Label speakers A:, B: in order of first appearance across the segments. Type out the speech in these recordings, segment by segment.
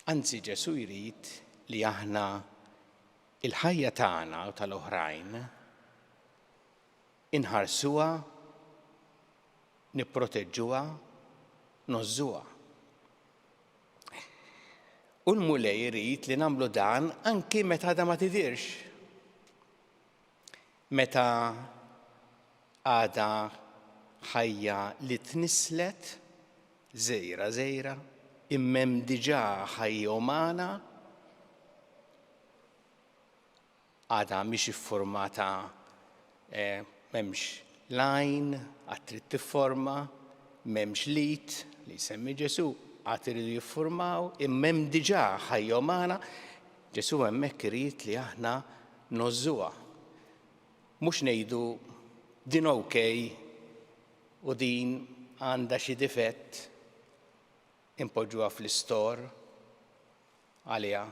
A: Anzi Ġesù jrid li aħna il-ħajja tagħna u tal-oħrajn inħarsuha, nipproteġġuha, nożżuha. U l-Mulej irid li nagħmlu dan anki meta għadha ma tidhirx. Meta għadha ħajja li tnisslet, żgħira żgħira, immem diġà ħajja umana, għadha mhix iffurmata m'hemmx l-għajn għad trid tifforma, m'hemmx l-id li jsemmi Ġesù għad iridu jiffurmaw, immem diġà ħajja umana, Ġesù hemmhekk irid li aħna ngħożżuha. Mhux ngħidu, din ok u din għandha xi difett inpoġġuha fl-istor għaliha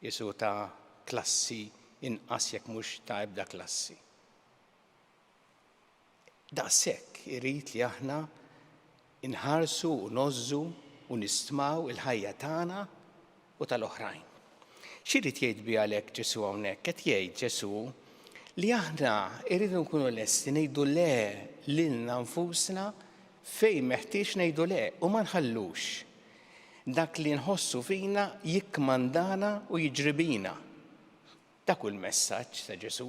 A: qisu ta' klassi inqas jekk mhux ta' ebda klassi. Daqshekk irid li aħna nħarsu u ngħożżu u nistmaw il-ħajja tagħna u tal-oħrajn. X'irid jgħid biha għalhekk Ġesù hawnhekk? Qed jgħid Ġesù li aħna rridu nkunu lesti ngħidu le lilna nfusna fejn meħtieġ ngħidu le u ma nħallux dak li nħossu fina jikkmandana u jiġri bina. Dak hu l-messaġġ ta' Ġesù.